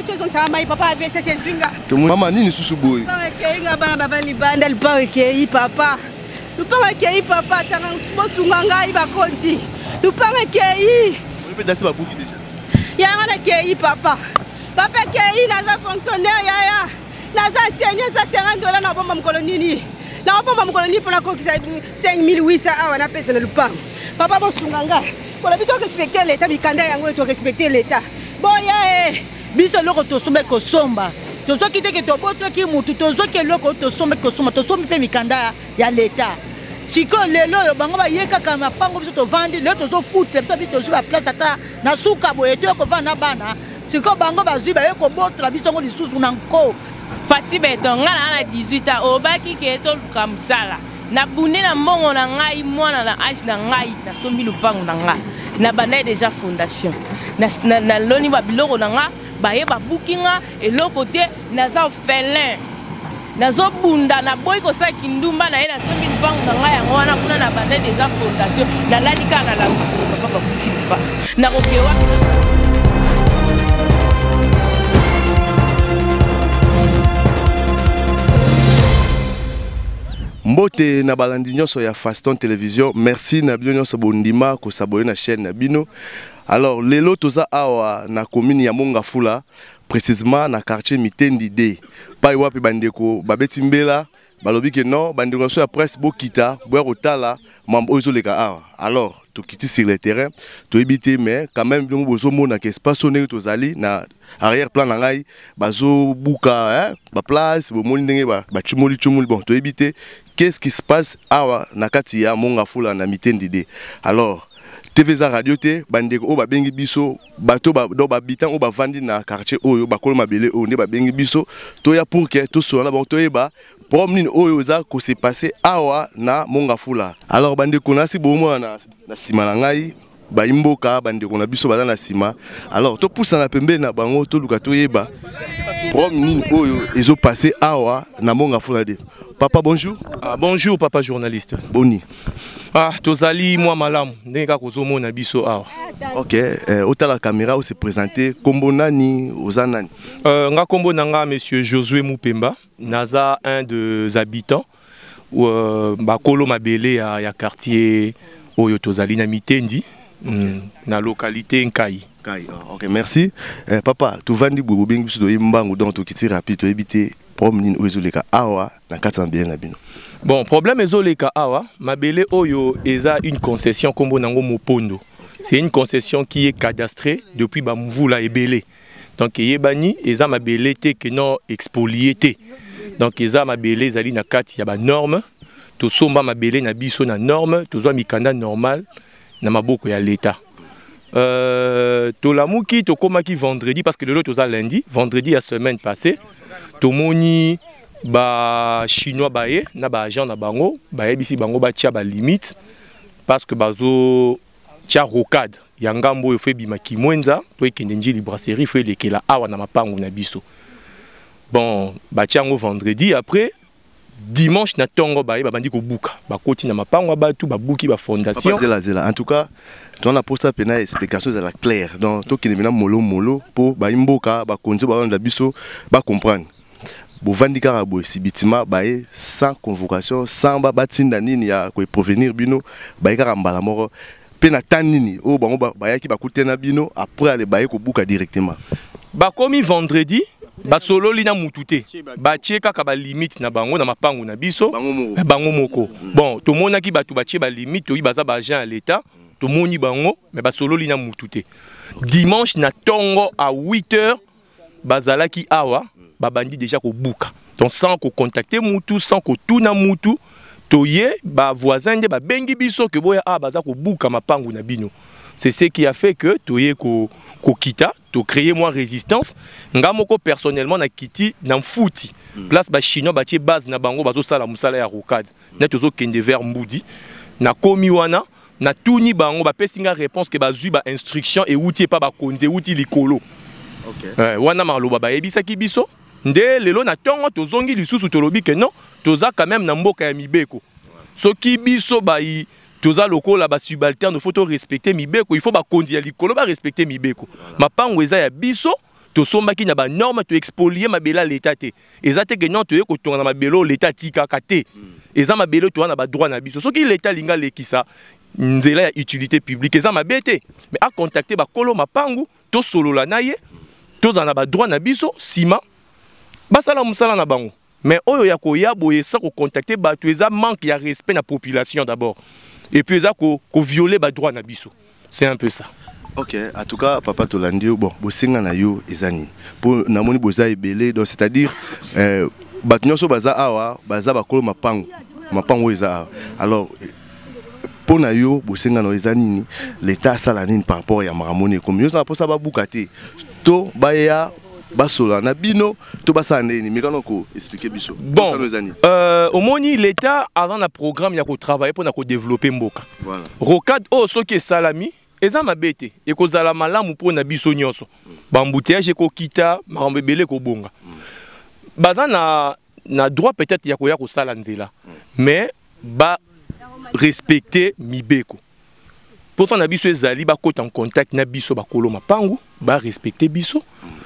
tozongisa mai papa avc sezinga mama nini susu boye ekei nga bana baba libanda lipa ekei papa Lupanga kei papa tanga bosunga ngai bakonzi. Lupanga kei. Oyebi dasi babuki deja. Yanga na kei papa. Papa kei naza fonctionnaire yaya. Naza seigneur sa senga ndola na bomba mokolo nini. Na bomba mokolo nini pona kokisa 5800 awa na pesa na lupanga. Papa bosunga ngai. Polobi to respecter l'etat mikanda yango to respecter l'etat. Boya eh. biso eloko tosombaki kosomba tozwaki te ke tobotaki motu tozwaki eloko oyo tosombaki kosomba tosombi mpe mikanda ya leta sikoyo lelo oyo bango baye kaka mapango biso tovandi lelo tozofuta biso bi tozwi baplace ata na suka boye toye kovanda na bana sikoyo bango bazwi baye kobotola biso yango lisusu na nko fati beton ngai naa na 18 ans obaki ke toluka mosala Na bunde na mbongo na ngai mwana na age na ngai na sombi lupango na nga na bandai deja fondation na, na, na loni ba biloko na nga baye babuki nga eloko te naza felin nazobunda naboyi kosala kindumba na ye nasombi lupango na ngai yango wana kuna na bandai deja fondation nalali kaka na lapapa babuki lupa nakoke wapi mbote na balandi nyonso ya faston television merci na bino nyonso bondima kosabole na chaîne na bino alors lelo toza awa na commune ya mongafula précisément na quartier mitendi d pai wapi bandeko babeti mbela balobi ke non bandeko nyonso ya presse bokita boya kotala mambo oyo ezoleka awa alors tokiti sur le terrain toyebi te mais quand même bino bozomona ke espace oyo ndenge tozali na arrière plan na ngai bazobuka hein? baplace bomoni ndenge bacumoli ba cumoli bon toyebi te qu'est ce qui se passe awa na kati ya mongafula na mitendi de alors tv eza radio te bandeko oyo babengi biso bato donc bahabitant oyo bavandi na quartier oyo bakolo mabele oyo nde babengi biso toya pour ke tosola na bango toyeba problème nini oyo eza kose passe awa na mongafula alors bandeko nasi bomona na nsima na ngai bayimboka bandeko na biso baza na nsima alors topusana pembeni na bango toluka toyeba problème nini oyo ezopasse awa na monga fulade papa bonjour ah, bonjour papa journaliste boni ah, tozali mwa malamu ndenge kaka ozomona biso awa ok eh, otala caméra ose présente kombo nani oza nani euh, nga kombo na nga monsieur josué mupemba Naza un des habitants euh, bakolo mabele ya, ya quartier oyo tozali na Mitendi okay. mm, na localité Nkai. Nkai. Oh, ok, merci. Eh, papa, tovandi boye bobengi biso toyebi mbangu donc tokiti rapide toyebi te problème nini oyo ezoleka awa na kati ya mabele na bino. Bon, problème ezoleka awa mabele oyo eza une concession kombo nango Mopondo. C'est une concession qui est cadastrée depuis Bamvula et Bélé. donc eyebani eza mabele te que non expolie te donc eza mabele ezali na kati ya banorme tosomba mabele na biso na norme tozwa mikanda normal na maboko ya leta euh, tolamuki tokomaki vendredi parce que lelo toza lundi vendredi ya semaine passée tomoni bachinois baye na baagent na bango bayebisi bango batya balimite parce que bazo tya rocade ya ngambo oyo fo ebima kimwenza to ekende njili brasserie fo elekela awa na mapango na biso bon batya yango vendredi après dimanche na ntongo baye babandi kobuka bakoti na mapango ya bato babuki bafondationzelazela en tout cas toza na mposa mpe na explication ezala claire donc tokende mpe na molomolo mpo bayi mboka bakonzi balanda biso bacomprendre bovandi kaka boye sibitima baye sans convocation sans ba batinda nini ya ko provenir bino baye kaka mbala moko pe na temps nini oyo bango bayaki bakute na bino après ale baye kobuka directement bakomi vendredi basololi na mutu te batie kaka balimite na bango na mapango na biso bango moko bon tomonaki bato batie balimite toyi baza baagent ya leta tomoni bango me basololi na mutu te dimanche na ntongo a 8 heures bazalaki awa babandi deja kobuka donc sans kocontacte mutu sans kotuna mutu toye bavoisin nde babengi biso ke boya awa baza kobuka mapangu na bino c'est ce qui a fait que toye kokita ko tocreye mwa résistance nga moko personnellement na kiti na mfuti mm. place bachinois batie base na bango bazosala mosala ya rocade mm. nde tozokende vers mbudi nakomi wana natuni bango bapesi nga réponse ke bazwi ba instruction ewuti epa bakonzi ewuti likolo okay. eh, wana maloba bayebisaki biso nde lelo na ntongo tozongi lisusu tolobi ke non toza quand même na mboka ya mibeko soki biso bayi toza lokola basubalterne faut torespecte mibeko il faut bakonzi ya likolo barespecte mibeko mapango eza ya biso tosombaki na banorme toexpolie mabele ya leta te eza te ke non toye kotonga na mabele oyo leta atikaka te hmm. eza mabele toya na badroit na biso soki leta alingi alekisa nzela ya utilité publique eza mabe te mais acontacte bakolo mapangu tosolola na ye tozala na badroit na biso nsima basala mosala na bango mais oyo ya koya boye sa kocontacte bato eza manque ya respect na population d'abord et puis eza kovioler ko badroit na biso c'est un peu ça ok en tout cas papa tolandi yo bon bosenga na yo eza nini mpo namoni boza ebele donc c'est à dire euh, bato nyonso baza awa baza bakolo mapango mapango oyo eza awa alors mpo na yo bosenga na yo eza nini leta asala nini par rapport ya makambo nini ekomi yo oza na mposa babuka te to baya basola na bino to basala ndenge nini mekana ko expliquer biso bon euh, omoni l'état aza na programme ya kotravaille mpo na kodeveloppe mboka voilà. rocade oyo oh, soki esalami eza mabe te ekozala malamu mpo na biso nyonso bambuteyage ekokita makambo ebele ekobonga baza na, na droit peut-être ya koya kosala nzela mais ba respecter mibeko mposa na biso ezali bakota en contact na biso bakolo mapangu barespecte biso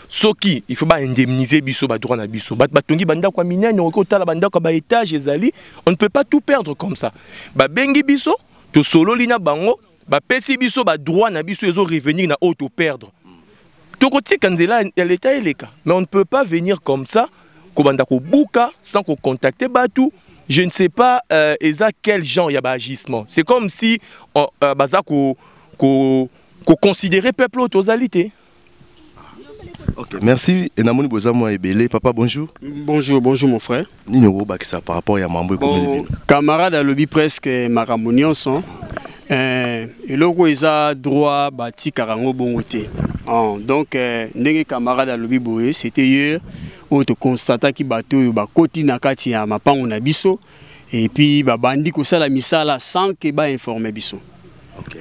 soki il faut baindemnise biso badroit na biso bato batongi bandako ya minene okoki kotala bandako ya baetage ezali on ne peut pas tout perdre comme ça babengi biso tosololi na bango bapesi biso badroit na biso ezo revenir na oyo toperdre tokotika nzela ya leta eleka mais on ne peut pas venir comme ça kobanda kobuka sans kocontacte bato je ne sais pas euh, eza quel genre ya baagissement c'est comme si euh, euh, baza ko, ko, ko considérer peuple oyo tozali te okay. merci enamoni boza mwa ebele papa bonjour bonjour bonjour mon frère nini okobakisa par rapport ya mambo ekomeli bino camarade alobi presque makambo nyonso eh, eloko eza droit batikaka yango bongo te oh, donc eh, ndenge camarade alobi boye c'était hier oyo toconstataki bato oyo bakoti na kati ya mapango na biso epuis babandi kosala misala sans ke bainforme biso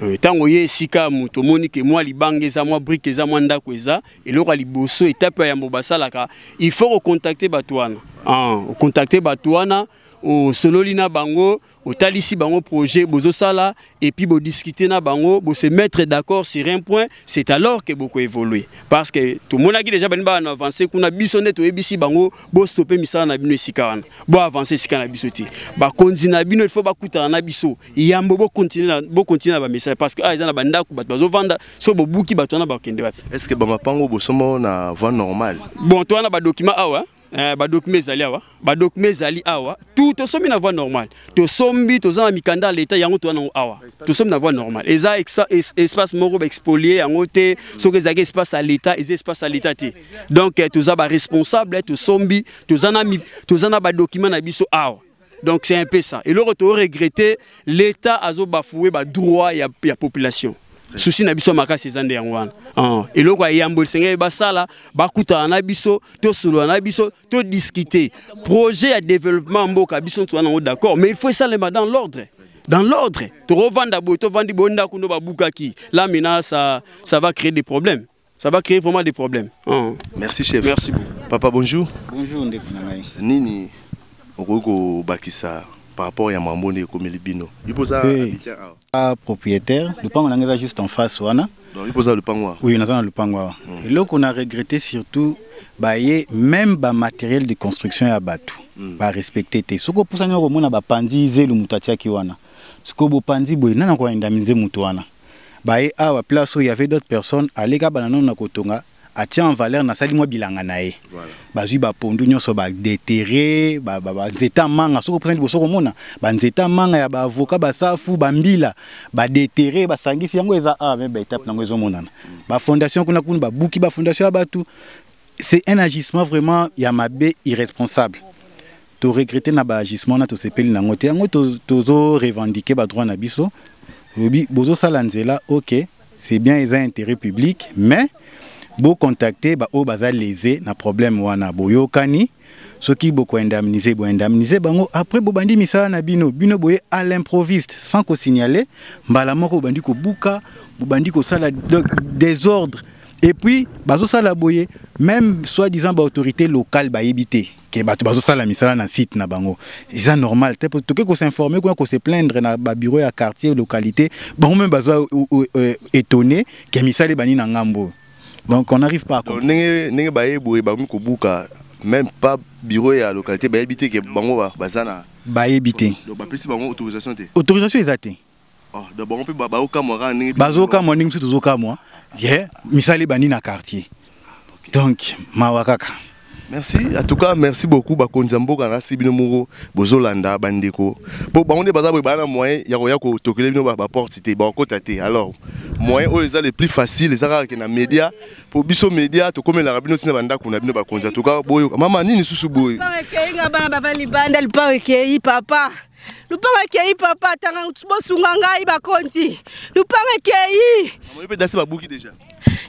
ntango okay. ye esika moto omoni ke mwa libanga eza mwa brike eza mwa ndako eza eloko ya liboso etape ya yambo basalaka il faut kocontacte bato wana ah, ocontacte bato wana osololi na bango otalisi bango projet bozosala epuis bodiscute na bango bose mettre d'accord sur un point c'est alors que bokoévolue parce que tomonaki déjà baninga bana avance kuna biso nde toyebisi bango bostope misala na bino esika wana boavance esika na biso te bakonzi na bino il faut bakutana na biso yambo bokontinue na bamessage parce que awa ah, eza na bandako bato bazovanda so bobuki bato wana bakende wapi est ce que bamapango bosomba yango na voie normale bon to wana badokima awa eh, badokima ezali awa badokima ezali awa tu tosombi na voie normale tosombi toza na mikanda ya leta yango toza nango awa tosombi na voie normale eza es, espace moko baexpolie yango te soki ezalaki espace ya leta eza espace ya leta te donc eh, toza baresponsable eh, tosombi toza na, toza na badokima na biso awa donc c'est un peu ça eloko to regretter l'état azo bafouer ba droit ya, ya population susi na biso makasi eza nde yango wana ah, eloko ya yambo esengeli basala bakutana na biso tosolola na biso todiskute projet ya développement mboka biso ntu wana yango d'accord mais il faut esalema dans l'ordre dans l'ordre tokovanda boye tovandi boye ndako ndo babukaki là maintenant ça, ça va créer des problèmes Ça va créer vraiment des problèmes. Hein. Merci chef. Merci beaucoup. Papa bonjour. Bonjour ndeko na ngai. Nini okoki kobakisa par rapport ya mambo nde ekomeli bino ipo oza habitant awa ah, propriétaire lupango na ngai eza juste en face wana donc ipo oza lupango awa oui naza na lupango awa hmm. eloko na regrette surtout baye même bamateriel de construction ya bato hmm. barespecte te soki opusani okomona bapanzi zelu moto atiaki wana sikoyo bopanzi boye nani akoyenda minze moto wana baye awa place oyo y'avait d'autres personnes aleki abanda nano na kotonga atie en valeur nasali mwa bilanga na ye voilà. bazwi bapondu nyonso badetere banzete ya manga soki opusani liboso komona banzete ya manga ya baavoka basafu bambila badetere basangisi yango eza awa me baetape nango ezomonana bafondation kuna kuna babuki bafondation ya bato c'est un agissement vraiment ya mabe irresponsable To regretter na ba agissement na tosepeli nango te. Yango tozo revendiquer ba droit na biso. Lobi bozo sala nzela, OK, c'est bien eza intérêt public, mais bo contacter ba oyo baza lese na problème wana boyokani soki boko indemniser bo indemniser bango après bobandi misala na bino bino boye à l'improviste sans ko signaler mbala moko bobandi kobuka bobandi kosala désordre et puis bazosala boye même soi-disant baautorité locale bayebi te que bato bazosala misala na site na bango eza normal te toke kosinforme kuna koseplaindre na babiro ya quartier localité bango meme baza euh, étonné ke misala ebandi na ngambo oyo donc on arrive pas ndenge ndenge baye boye bakomi kobuka même pas bureau ya localité bayebi te ke bango baza na bayebi te bapesi bango autorisation te autorisation eza te Oh, donc bango mpe baokamwa kaka ndenge bazokamwa ndenge biso tozokamwa ye misala ebandi na quartier donc mawa kaka merci en tout cas merci beaucoup bakonzi ya mboka nasi bino moko bozolanda bandeko mpo bango nde baza boye baa na moyen ya koya kotokele bino baporte te bakokota te alors moyen oyo eza le plus facile eza kaka ke na média mpo biso média tokomelaka bino ntina bandako na bino bakonzi en tout cas boyoka mama nini susu boye bana bavandi libanda lipao ekei papa lupanga ekei papa tanga bosunga ngai bakonzi lupanga ekei mpe dasi babuki deja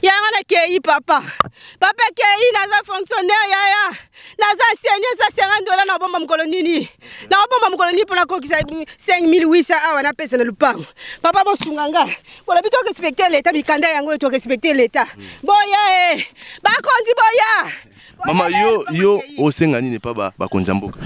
yanga nakei papa papa ekei naza fonctionnaire yaya naza enseigne eza 50 dola nakobomba mokolo nini nakobomba mokolo nini mpo nakokisa 5800 awa napesa na lupango papa bosunga nga bolobi torespecte leta mikanda yango oyo torespecte leta boya e bakonzi boya mama yo yo osenga nini epa bakonzi ya mboka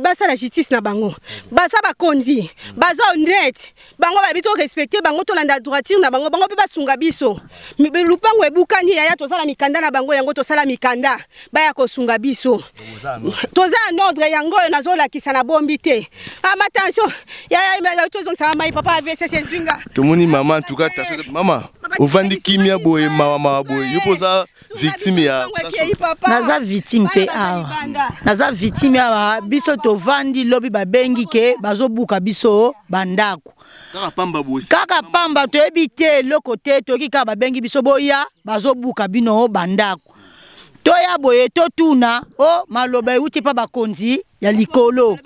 basala justice na bango baza bakonzi baza honnête bango bayebi torespecte bango tolanda droiture na bango bango mpe basunga biso lupango ebukani yaya toza na mikanda na bango yango tosala mikanda baya kosunga biso toza en ordre yango oyo nazolakisa na bombi te ama ah, tension tozongisaka mai papa avc sezinga tomoni mama ntuka tension mama ovandi kimia boye mawa mawa boye yo mpo oza victime ya naza victime mpe awa naza victime awa biso tovandi lobi babengi ke bazobuka biso bandako kaka pamba toyebi te eloko te toyoki kaka babengi biso boya bazobuka bino bandako toya boye totuna o oh, maloba euti mpa bakonzi ya likolo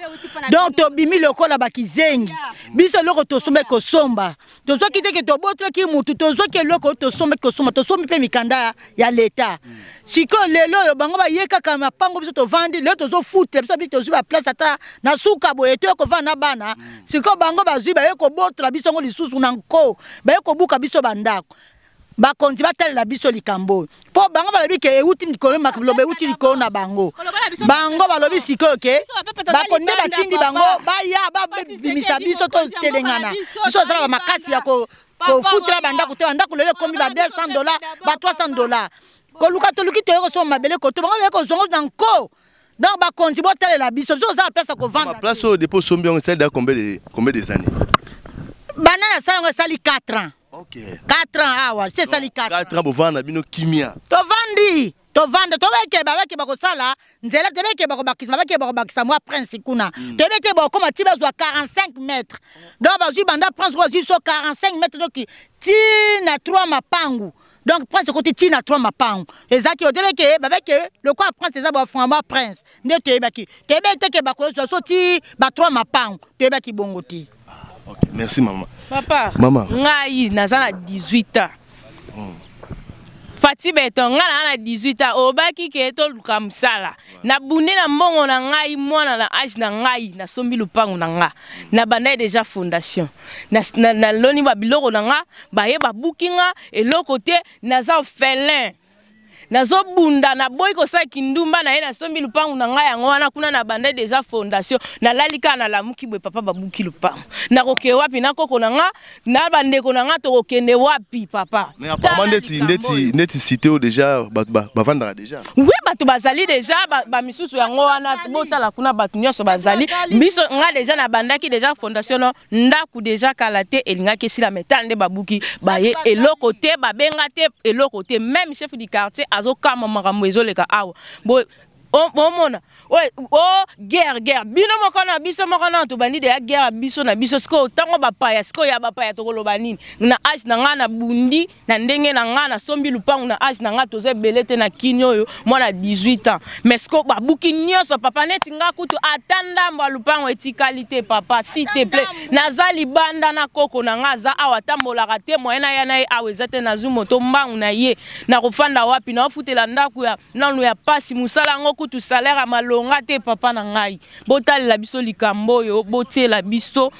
donc tobimi lokola bakizengi biso eloko tosombaki kosomba tozwaki te ke tobotolaki motu tozwaki eloko tosombaki kosomba tosombi mpe mikanda ya leta sikoyo lelo oyo bango baye kaka mapango biso tovandi lelo tozofutela biso bi tozwi baplace ata na suka boye toye kovanda na bana sikoyo bango bazwi baye kobotola biso yango lisusu na nko baye kobuka biso bandako bakonzi batalela biso likambo oyo mpo bango balobi ke euti likolo makoloba euti likolo na bango bango balobi sikoyo ke bakoni nde batindi bango baya babimisa biso totelengana biso ozala bamakasi ya kofutela bandako te bandako lelo ekomi ba 200 dola ba 300 dola koluka toluki toye kosoma mabele koto bango baye kozongo na nko donc bakonzi botalela biso biso oza na place ya kovanda place oyo depo osombi yango esali da combien des années bana nasala yango esali 4 ans Ok. 4 ans awa, c'est ça les 4. 4 ans bovanda bino kimia. Tovandi. tovanda tobekeba bakeba kosala nzela te bekeba kobakisa babakeba kobakisa mwa prince kuna mm. toyebi te bokoma ti bazwa 45 mètre donc bazwi banda prince bazwi so 45 mètre donc ti na 3 mapangu donc prince ekoti ti na trois mapango ezalaki odebi ke babe ke lokola prince eza baframa prince nde toyebaki toyebi te ke bakozwa so ti ba trois mapango toyebaki bongo te okay. merci mama papa mama ngai naza na 18 ans hmm. fati beton ngai naa na 18 ans obaki ke toluka mosala na bunde na mbongo na ngai mwana na age na ngai nasombi lupangu na nga na bandai deja fondation naloni na, na babiloko na nga baye babuki nga eloko te naza felin nazobunda naboyi kosala kindumba na ye nasombi lupangu na ngai yango wana kuna na bandai deja fondation nalali kaka nalamuki boye papa babuki lupangu nakoke wapi na koko na nga na bandeko na ngai tokokende wapi papa mais apparemment ndeti ndeti ndeti cité oyo déjà bato bavandaka déjà oui bato bazali déjà bamisusu ba yango wana botala kuna bato nyonso bazali biso ngai déjà nabandaki déjà fondation no ndako déjà kala te elingaki esila mai tala nde babuki baye eloko te babenga te eloko te même chef du quartier azokama makambo ezoleka awa omona o oh, guerre guerre bino moko na biso moko na tobandi deya guerre ya biso na biso sikoyo ntango bapaya sikoyo ya bapaya tokoloba nini na age na ngai na bundi na ndenge na ngai nasombi lupangu na age na ngai toza ebele te na kini oyo mwana 18 ans mais sikoyo babuki nyonso papa neti ngai kutu ata ndambo ya lupangu etikali te papa si te plait naza libanda na koko na ngai aza awa atambolaka te moye na ya na ye awa eza te nazwi moto mbangu na ye nakofanda wapi naofutela ndako ya nano ya pasi mosala yango kutu salaire ya malonga te papa na ngai botalela biso likambo oyo botiela biso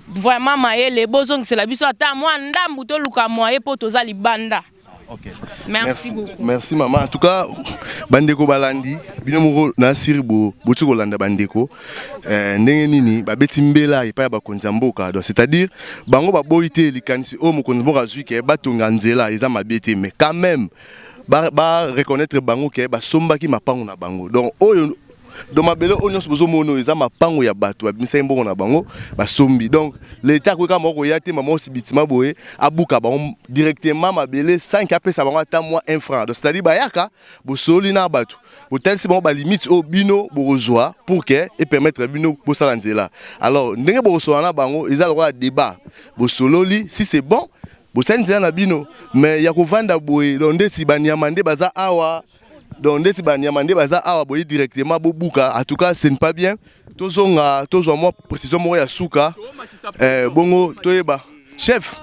vraiment mayele bozongisela biso ata mwa ndambu toluka mwaye mpo toza libanda Okay. Merci, merci beaucoup. Merci maman. En tout cas, bandeko balandi, bino moko na siri bo botsi kolanda bandeko. eh, ndenge nini babeti mbela epai ya bakonzi ya mboka donc c'est-à-dire bango baboyi te likanisi oyo oh, mokonzi mboka azwi ke batonga nzela eza mabe te mais quand même ba, ba reconnaître bango ke basombaki mapango na bango donc oyo donc mabele oyo nyonso bozomona oyo eza mapango ya bato babimisaki mbongo na bango basombi donc leta akoki kaka moko koya te mama osi bitima boye abuka bango directement mabele 5 apesa bango ata mwa 1 franc donc c'est-à-dire bayaka bosololi na bato botalisi bango balimite oyo bino bokozwa pour ke epermettre bino bosala nzela alors ndenge bokosolola na bango eza lokola débat bosololi si c'est bon bosali nzela na bino mais ya kovanda boye donc ndeti banyama nde baza awa donc ndeti banyama nde baza awa boye directement bobuka en tout cas ce n'est pas bien tozonga tozwa mwa précision moko ya suka eh, bongo toyeba chef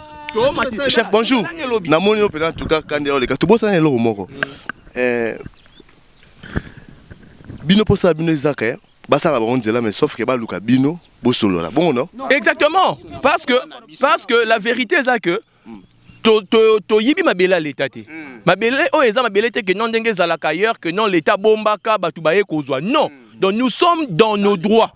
chef bonjour namoni yo mpenza tuka kandi ya oleka tobosana eloko moko eh, bino mposa ya bino ezaka eh? basala bango nzela mais sauf que baluka bino bosolola bongo non exactement parce que parce que la vérité eza que to to to yibi mabela leta te mm. mabele oyo eza mabele te que non ndenge ezalaka ailleurs que non leta bombaka bato baye kozwa non mm. donc nous sommes dans nos droits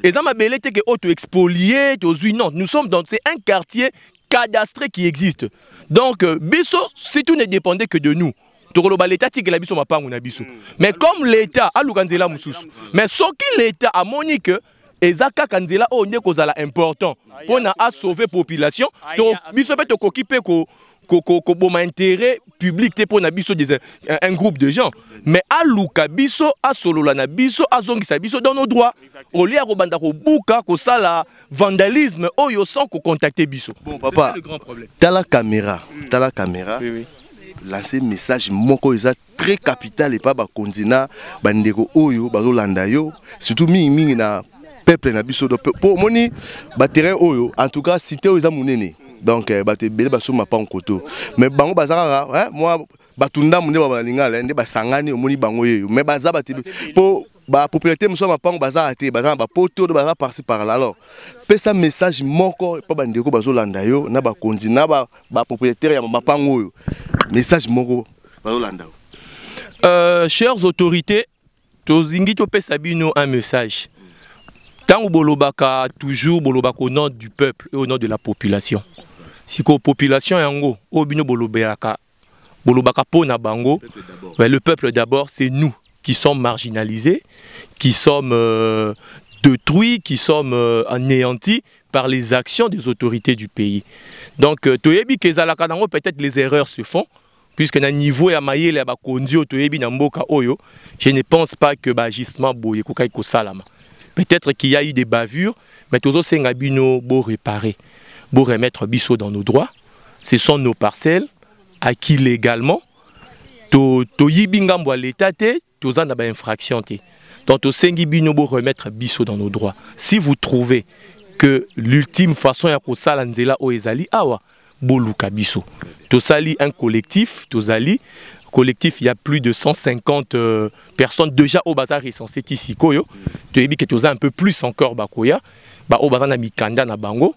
eza mabele te que oyo to expolie tozwi non nous sommes dans c'est un quartier cadastré qui existe donc euh, biso si tout ne dépendait que de nous tokoloba leta atikela biso mapangu na biso mm. mais comme leta aluka nzela mosusu mais soki leta amoni que eza kaka nzela oyo nde kozala important mpo na asauve population to biso mpe tokoki mpe ko koboma intérêt public te mpo na biso des, un groupe de gens mais aluka biso asolola na biso azongisa biso dans nos droits au lieu ya kobanda kobuka kosala vandalisme oyo sans kocontacte biso bon papa tala caméra tala caméra oui, oui. lancer message moko eza très capital epa bakonzi na bandeko oyo bazolanda yo surtout mingimingi na peuple na biso mpo omoni baterrain oyo en tout cas cité oyo eza monene donc eh, bato ebele basomba pa nkoto mais bango baza kaka eh, mwa bato ndambo nde balingala eh, nde basangani omoni bango yeyo mais baza bato mpo ba popularité mosusu ya mapango bazala te baza na bapoto to baza parci par là alors pesa message moko epa bandeko bazolanda yo na bakonzi na bapropriétaire ya mapango oyo message moko bazolanda yo euh, chers autorités tozingi topesa bino un message ntango bolobaka toujours bolobaka au nom du peuple et au nom de la population sikoyo population yango oyo bino bolobelaka bolobaka po na bango mais le peuple d'abord c'est nous qui sommes marginalisés qui sommes euh, détruits qui sommes euh, anéantis par les actions des autorités du pays donc euh, toyebi ke ezalaka nango peut-être les erreurs se font puisque na niveau ya mayele ya bakonzi oyo toyebi na mboka oyo je ne pense pas que baagissement boye ekokaki kosalama peut-être qu'il y a eu des bavures mais tozosenga bino bo réparer bo remettre biso dans nos droits ce sont nos parcelles acquis légalement to toyibi ngambo ya leta te toza na bainfraction te donc tosengi bino bo remettre biso dans nos droits si vous trouvez que l'ultime façon ya kosala nzela oyo ezali awa boluka biso tosali un collectif tozali collectif il y a plus de 150 euh, personnes déjà au bazar recensé ti sikoyo toyebi que toza un peu plus encore bakoya ba au bazar na mikanda na bango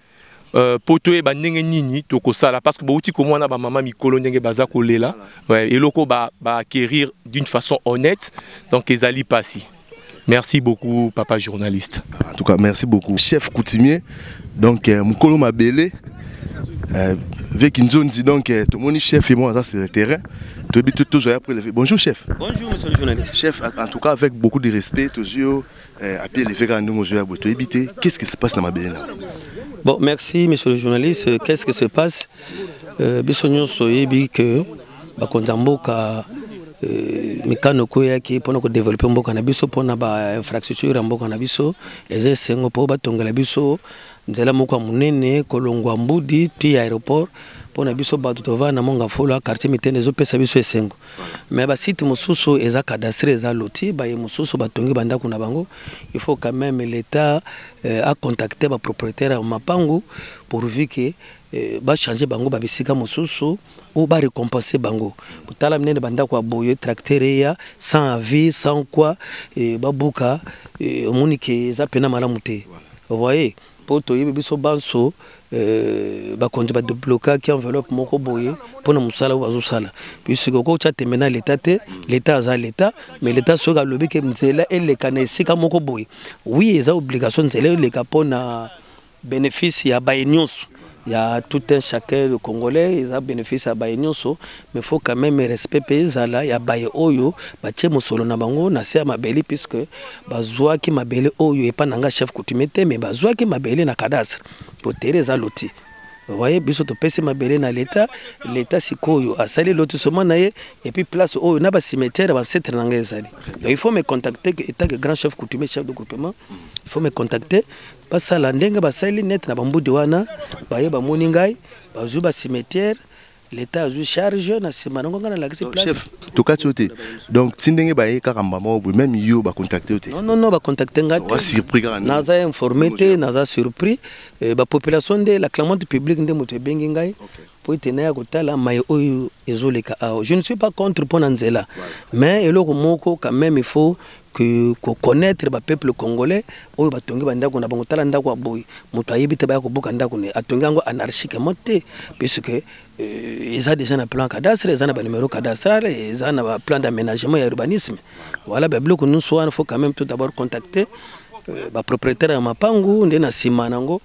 Euh, mpo toyeba ndenge nini tokosala parce que bouti komona bamama mikolo ndenge baza kolela ouais, eloko baaquérir ba d'une façon honnête donc ezali mpasi merci beaucoup papa journaliste en tout cas merci beaucoup chef coutumier donc euh, mokolo mabele euh, veki nzonzi donc euh, tomoni chef ye moko aza sur le terrain toyebi tozwa ya prelevé bonjour chef bonjour monsieur le journaliste chef en tout cas avec beaucoup de respect tozwi yo Eh, api eleve kaka ndenge ozoya boye toyebi te qu'est ce qui se passe na mabele na bon merci monsieur le journaliste euh, qu'est ce qui se passe euh, biso nyonso toyebi que bakonzi ya mboka euh, mikano oko eyaki mpona kodevelope mboka na biso mpona bainfrastructure ya mboka na biso eza esengo mpo batongela biso nzela moko ya monene kolongwa mbudi ti aéroport mpona biso bato tovanda na mongafula quartier mitene ezopesa biso esengo mais ba site mosusu eza cadastre eza loti baye mosusu batongi bandako na bango il faut quand même l'état euh, a contacté ba propriétaire ya mapangu pourvu que euh, bachange bango babisika mosusu ou ba récompenser bango tala minene bandako ya boye tracteur eya sans avis sans quoi euh, babuka omoni euh, ke eza mpena malamu te voyez voilà. mpo toyebi biso banso euh, bakonzi badeblokaki enveloppe moko boye mpo na mosala oyo bazosala puisque okoki otya tembe na leta te leta aza leta mais leta soki alobi ke nzela eleka na esika moko boye wi eza obligation nzela eleka mpo na bénéfice ya baye nyonso ya tout un chacun le congolais eza bénéfice ya baye nyonso mais faut quand même respect mpe ezala ya baye oyo batie mosolo na bango na se ya mabele puisque bazwaki mabele oyo epa na nga chef coutumier te mais bazwaki mabele na cadastre botere eza loti voye biso topesi mabele na leta leta sikoyo asali lotisoma na ye epuis place oyo na bacimetière ya bancetre na ngai ezali donc il faut me contacter etant que grand chef coutumier chef de groupement il faut me contacter basala ndenge basali neti na bambudi wana baye bamoni ngai bazwi bacimetiere leta azwi charge na nsima nango ngai nalakisi chef tokati yo te donc ti ndenge baye kaka mbamba moko boye meme yo bacontacte yo te nonono bacontacte ngai tesurpris kaka naza informe te naza surpris eh, bapopulation nde la clamante publique nde moto ebengi ngai mpo ete naya kotala maye oyo ezoleka awa je ne suis pas contre mpo na nzela mais eloko moko quand même il faut que koconnaître bapeuple congolais oyo batongi bandako na bango tala ndako ya boye moto ayebi te baya kobuka ndako ne atongi yango anarchiquement te puisque euh, eza déjà na plan cadastre eza na banumero cadastral eza na baplan d'aménagement ya urbanisme voilà babiloko nyonso wana faut quand même tout d'abord contacter euh, bapropriétaire ya mapangu nde na nsima nango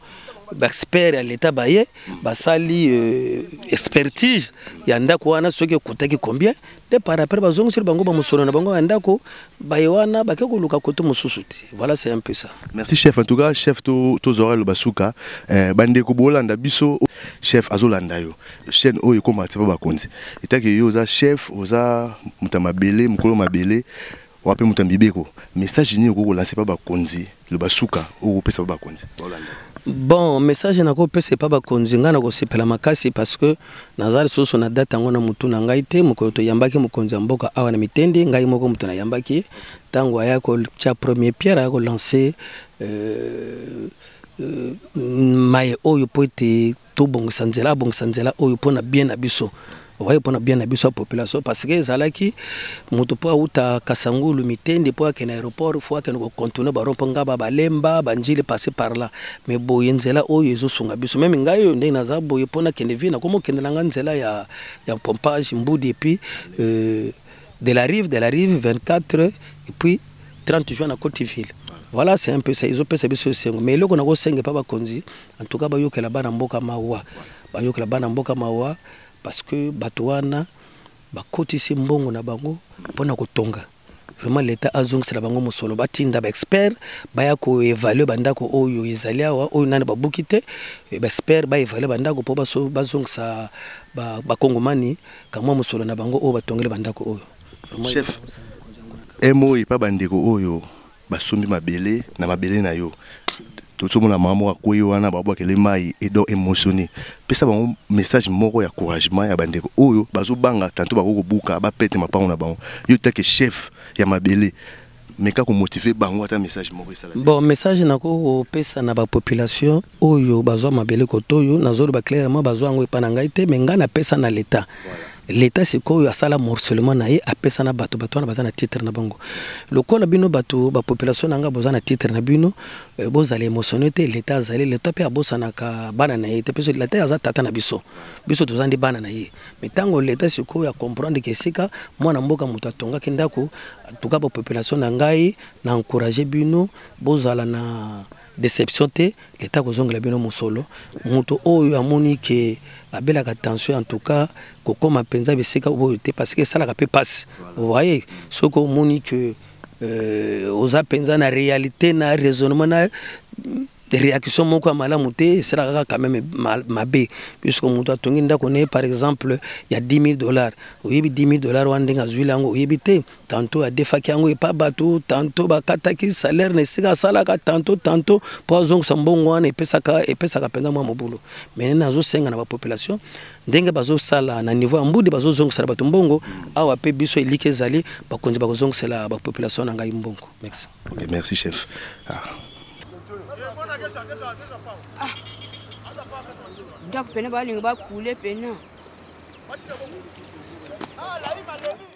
baexpert ya leta baye basali euh, expertise ya ndako wana soki ekutaki combien nde par après bazongiseli bango bamosolo na bango ya ndako baye wana bake koluka kote mosusu te voilà c'est un peu ça merci chef en tout cas chef tozwaka loba suka eh, bandeko bolanda biso chef azolanda yo chaîne oyo ekoma atipa bakonzi etaki yo oza chef oza moto ya mabele mokolo mabele wapi moto ya mibeko message nini okoki kolanse mpa bakonzi loba suka okopesa mpa bakonzi bon message nakopesa epa bakonzi ngai nakosepela makasi parce que naza lisusu na date yango na motu na ngai te mokolo toyambaki mokonzi ya mboka awa na mitendi ngai moko moto nayambaki ntango aya kotya premier pierre aya kolanse euh, euh, maye oyo mpo ete tobongisa nzela abongisa nzela oyo mpo na bien na biso oye mpo na bien na biso ya population parce que ezalaki moto mpo awuta kasangulu mitende mpo akende aéroport fo akende kocontourne barompo ngaba balemba banjili passe par là mais boye nzela oyo ezosunga biso meme ngai oyo ndenge naza boye mpo nakende vie nakoma okendela ngai nzela ya, ya pompage mbudi epuis euh, de la rive de la rive 24 epuis 30 juin na cote ville voilà c'est un peu ça ezopesa biso esengo mais eloko nakosenga epa bakonzi En tout cas bayokela bana mboka mawa, bayokela bana mboka mawa parce que bato wana bakotisi mbongo na bango mpo na kotonga vraiment leta azongisela bango mosolo batinda baexpert baya koevalue bandako oyo ezali awa oyo nani babuki te baexpert baevalue bandako mpo bazongisa bakongomani kamwa mosolo na bango oyo batongeli bandako oyo chef emoyi mpa bandeko oyo basombi mabele na mabele na yo tozomona mama moko akwei wana babwakele mai edo emosoni pesa bango message moko ya couragement ya bandeko oyo bazobanga tanto bakoki kobuka bapete mapango na bango yo take chef ya mabele meka komotive bango ata message moko esala bon message nakoki kopesa na bapopulation oyo bazwa mabele kotoyo nazoloba clairement bazwa yango epa na ngai te me ngai napesa na leta leta sikoyo asala morcellement na ye apesa na bato bato wana baza na titre na bango lokola bino bato bapopulation na ngai boza na titre na bino eh, bozala émotionne te leta azali leta mpe abosanaka bana na ye te mpe leta aza tata na biso biso toza nde bana na ye me ntango leta sikoyo acomprendre ke esika mwana mboka moto atongaki ndako tuka bapopulation na ngai na encourage bino bozala na deception te leta akozongela bino mosolo moto oyo amoni ke abelaka tension en tout cas kokoma mpenza bisika oyo te parce que esalaka mpe mpasi voye soki omoni ke euh, oza mpenza na réalité na raisonnement na réaction moko ya malamu te esalaka kaka quand même mabe puisque moto atongi ndako na ye par exemple ya 10 000 dollars oyebi 10 000 dollars wana ndenge azwili yango oyebi te tanto adefaki yango epa bato tanto bakataki salaire na esika asalaka tanto tanto mpo azongisa mbongo wana epesaka epesaka mpenza mwa mobulu mene nazosenga na bapopulation ndenge bazosala na niveau ya mbudi bazozongisela bato mbongo awa mpe biso eliki ezali bakonzi bakozongisela bapopulation na ngai mbongo merci okay, merci chef ah. Ah. ndako pene balingi bakule pena ah,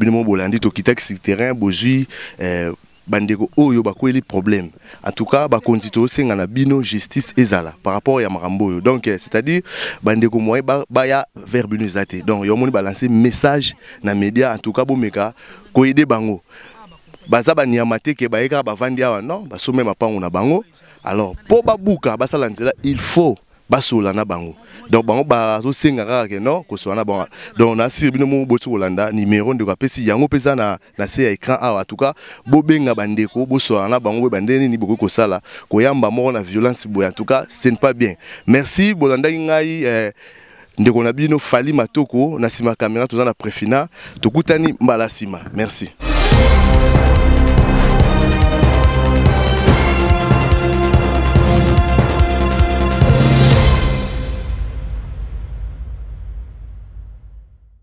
bino mo bolandi tokitaki sur terrain bozwi eh, bandeko oyo bakweli problème en tout cas bakonzi tosenga na bino justice ezala par rapport ya makambo oyo donc eh, c'est-à-dire bandeko moye baya ba vers bino eza te donc yomoni balance message na média en tout cas bomeka koyede bango baza banyama te ke baye kaka bavandi awa non basombe mapango na bango alors mpo babuka basala nzela il faut basola na bango donc bango bazosenga kaka ke non kosola na bango donc nasiri bino moko boti kolanda numero ndeko apesi yango mpe eza na na se ya écran awa atuka bobenga bandeko bosolana na bango boye bandenge nini bokoki kosala koyamba moko na violence boye atuka ce n'est pas bien merci bolandaki ngai eh, ndeko na bino fali matoko na nsima kamera toza na prefina tokutani mbala nsima merci